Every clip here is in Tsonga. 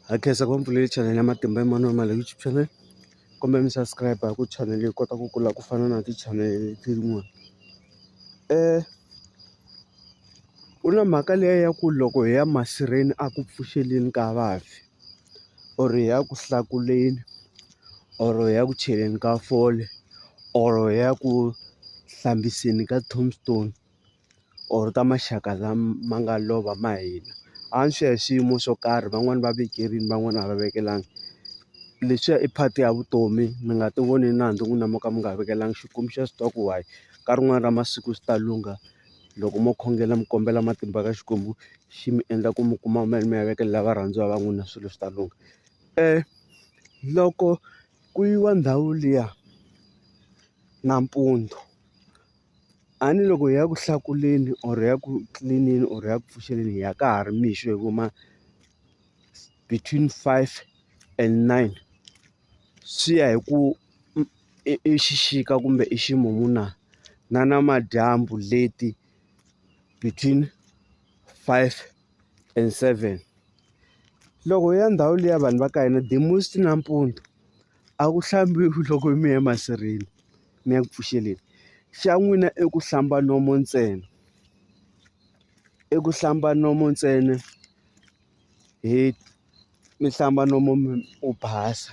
ha khensa ku va mpfulele channel ya matimba ya mani wa mali youtube channel kumbe mi subscribe ku channel yi kota ku kula ku fana na ti-channel leti rin'wana um ku na mhaka leyi ya ku loko hi ya masirheni a ku pfuxeleni ka vafi or hi ya ku hlakuleni or hi ya ku cheleni ka fole or hi ya ku hlambiseni ka tombstone. or ka maxaka lama nga lova ma hina a swi ya hi swiyimo swo karhi van'wani va vekerini van'wani a va vekelani leswiya i part ya vutomi mi nga ti voni nandzu n'wina mo ka mi nga vekelani Xikwembu xa swi tiva ku why ka rin'wani ra masiku swi ta lungha loko mo khongela mi kombela matimba ka Xikwembu xi mi endla ku mi kuma mali mi ya vekela varhandziwa va n'wina swilo swi ta lungha loko ku yiwa ndhawu liya nampundzu A ni loko hi ya ku hlakuleni or ya ku clean-eni or ya ku pfuxeleni hi ya ka ha ri mixo hi ku ma between five and nine swi ya hi ku i xixika kumbe i ximumu na na namadyambu leti between five and seven loko hi ya ndhawu liya ya vanhu va ka hina the most nampundzu a ku hlambiwi loko mi ya masirheni. mi ya ku pfuxeleni xa n'wina i ku hlamba nomu ntsena i ku hlamba nomu ntsena hi mi hlamba nomu mi u basa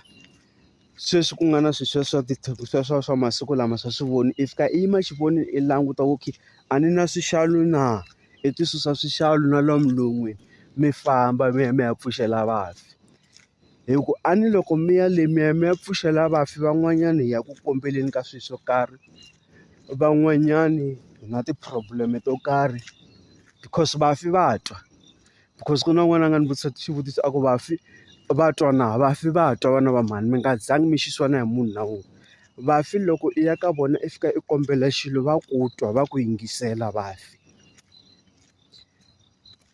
sweswi ku nga na swi swa swa ti swa swa swa masiku lama swa swi voni i fika i yima xivoni i languta ku okay a ni na swixalu na i ti susa swixalu na lomu non'wini mi famba mi ya mi ya pfuxela vafi. hi ku a ni loko mi ya le mi ya mi ya pfuxela vafi van'wanyana hi ya ku kombeleni ka swilo swo karhi van'wanyani hi na ti-problem to karhi because vafi va twa because ku na un'wana a nga ni vutisa xivutiso a ku vafi va twa na vafi va twa vana va mhani mi nga zangi mi xisiwi na hi munhu na wun'we vafi loko i ya ka vona i fika i kombela xilo va ku twa va ku yingisela vafi.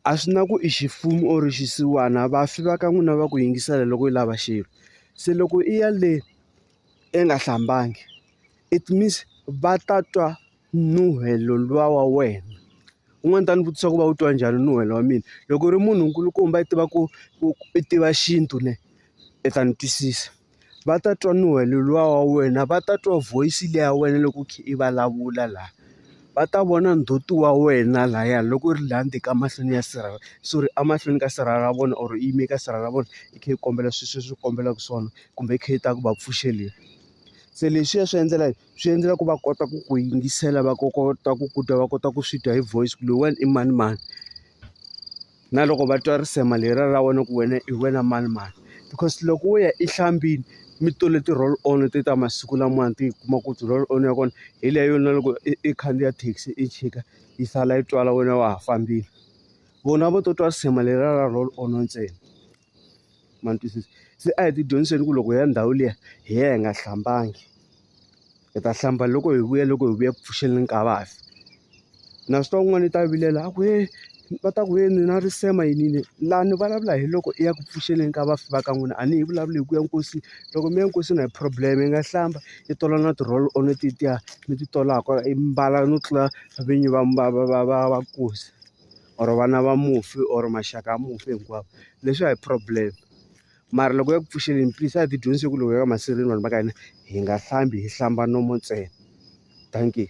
a swi na ku i ximfumo or xisiwana vafi va ka n'wina va ku yingisela loko i lava xilo se loko i ya le i nga hlambangi it means va ta twa nuhelo luya wa wena un'wana u ta ni vutisa ku va wu twa njhani nuhelo wa mina loko u ri munhu nkulukumba i tiva ku i tiva xintu ne i ta ni twisisa. va ta twa nuhe luwa wa wena va ta twa voice liya ya wena loko u kha i vulavula laha va ta vona ndzhuti wa wena laya loko u ri laha ndzeni ka mahlweni ya sirha sorry emahlweni ka sirha ra vona or yime ka sirha ra vona i kha i kombela sweswi leswi u kombelaka swona kumbe i kha i ta ku va pfuxeleni se leswiya swi endlela swi endlela ku va kota ku ku yingisela va kota ku ku twa va kota ku swi twa hi voice ku loyiwani i manimani. na loko va twa risema lera ra wena ku wena hi wena mani mani because loko wo ya ehlambini mi tole ti-roll on te ta masiku lamawani ti kuma ku ti-roll on ya kona hi leyo na loko i i khandziya thekisi i chika yi sala yi twala wena wa ha fambile vona vo to twa risema lera ra roll on ntsena. ma ni twisisa se a hi ti dyondziseni ku loko hi ya ndhawu liya hi ya hi nga hlambangi hi ta hlamba loko hi vuya loko hi vuya ku pfuxeleni nkava fi na swi twa un'wana i ta vilela a ku he va ta ku he ni na risema yini yini laha ni vulavula hi loko i ya ku pfuxeleni ka vafi va ka n'wina a ni hi vulavuli hi ku ya nkosini loko mi ya nkosini a hi problem mi nga hlamba i tola na ti-roll on tetiya mi ti tolaka i mbala no tlula vinyi va va va va va va nkosi. or vana va mufi or maxaka ya mufi hinkwavo leswi a hi problem mara loko ya ku pfuxeleni please a hi ti dyondzise ku loko hi ya ka masirheni vanhu va ka hina hi nga hlambi hi hlamba nomo ntsena dankie.